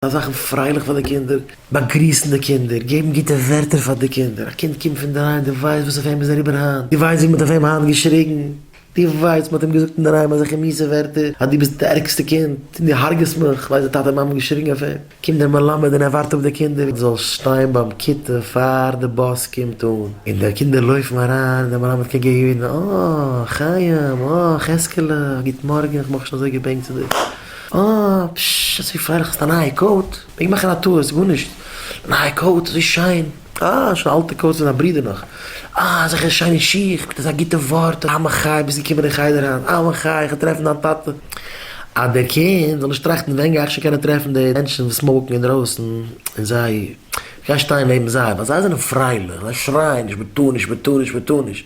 זיי זאכן פרייליך פאר די קינדער, באגריסן די קינדער, געבן גוטע ווערטער פאר די קינדער, א קינד קומט פונדערהיים, דו ווייסט וואס אויף אים איז אריבער היינט, דו ווייסט ווי מ'האט אויף אים היינט געשריגן, דו ווייסט מ'האט אים געזאגט אינדערהיים אזעלכע מיעסע ווערטער אז דו ביסט די ערגסטע קינד, דו הרג'עסט מיך, כ'ווייס די טאטע מאמע האבן געשריגן אויף אים, קומט דער מלמד און ער ווארט אפ די קינדער זאל שטיין ביים כיתה פאר די באס קומט אן, און די קינדער לויפן אריין און דער מלמד קוקט די יוד אן, אה חיים, אה חזקעלע, גוט מארגן, כ'בין נאך נישט אזוי געבענקט צו דיר. אה, פששש, אזוי פרייליך, האסט א נייע קאוט? מעג מאכן א טעות, גארנישט. נייע קאוט, אזוי שיין. אה, שוין אלטע קאוט פון זיין ברודער נאך. אה, אזעלכע שיינע שיך, מיט אזא גוטע ווארט, אה, אמן חיי, ביסט געקומען אין חדר היינט, אמן חיי, איך וועל טרעפן דיין טאטע. אז דער קינד זאל נישט טראכטן ווען גיי איך שוין קענען טרעפן די מענטשן וואס סמאוקן אינדרויסן, און זיי, איך גיי שטיין נעבן זיי, ווייל זיי זענען פרייליך, זיי שרייען נישט, מען טאר נישט, מען טאר נישט, מען טאר נישט.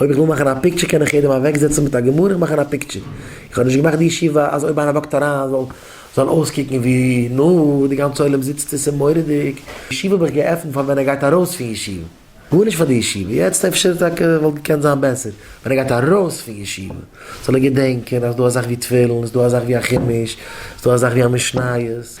אויב איך וויל מאכן א פיקטשער קען איך יעדעם אוועקזעצן מיט א גמרא און מאכן א פיקטשער. איך האב נישט געמאכט די ישיבה אז אויב איינער וואקט אריין זאל זאל אויסקוקן ווי נא די גאנצע עולם זיצט עס איז מורא'דיג. ישיבה האב איך געעפנט פאר ווען ער גייט ארויס פון ישיבה. גארנישט פאר די ישיבה יעצט אפשר טאקע וואלט געקענט זיין בעסער ווען ער גייט ארויס פון ישיבה זאל ער געדענקען אז ס'דא אזאך ווי תפילין ס'דא אזאך ווי א חומש ס'דא אזאך ווי א משניות.